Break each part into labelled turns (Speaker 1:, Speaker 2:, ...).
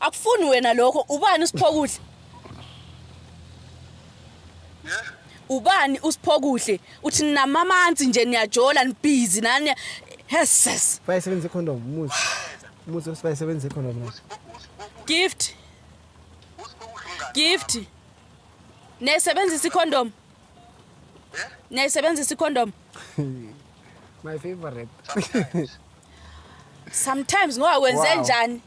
Speaker 1: akufuni
Speaker 2: wena lokho ubani usiphokuhle Yeah.
Speaker 1: ubani
Speaker 2: usiphokuhle uthi ninamanzi nje niyajola nibhizi nani heses bayisebenzisa icondom
Speaker 3: umuzi umuzi othi bayisebenzisa icondom na gift Usiphokuhle
Speaker 2: umngane. gift niyayisebenzisa icondom Yeah. niyayisebenzisa icondom
Speaker 3: my favorite Sometimes.
Speaker 2: sometimes ngoba wenze Wow. njani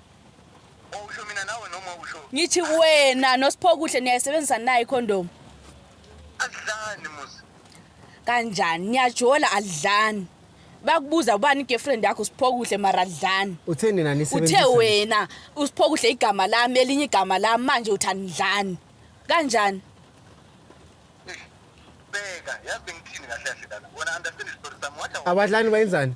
Speaker 2: Usho
Speaker 1: mina nawe noma usho. Ngithi wena
Speaker 2: noSiphokuhle niyayisebenzisa nayo ikhondomu.
Speaker 1: Adlani muzi. Kanjani
Speaker 2: niyajola adlani. Bakubuza ubani igirlfriend yakho Siphokuhle mara adlani. Uthe nina nisebenzisa. Uthe
Speaker 3: wena
Speaker 2: uSiphokuhle igama lami elinye igama lami manje uthani dlani. Kanjani?
Speaker 1: Beka, yazi ngithini kahle kahle lana. Wona understand isitori sami wathi. Abadlani bayenzani?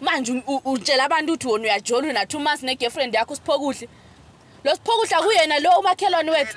Speaker 2: manje utshela abantu ukuthi wona uyajola una two months ne girlfriend yakho siphokuhle lo siphokuhle akuyena lo umakhelwane
Speaker 1: wethu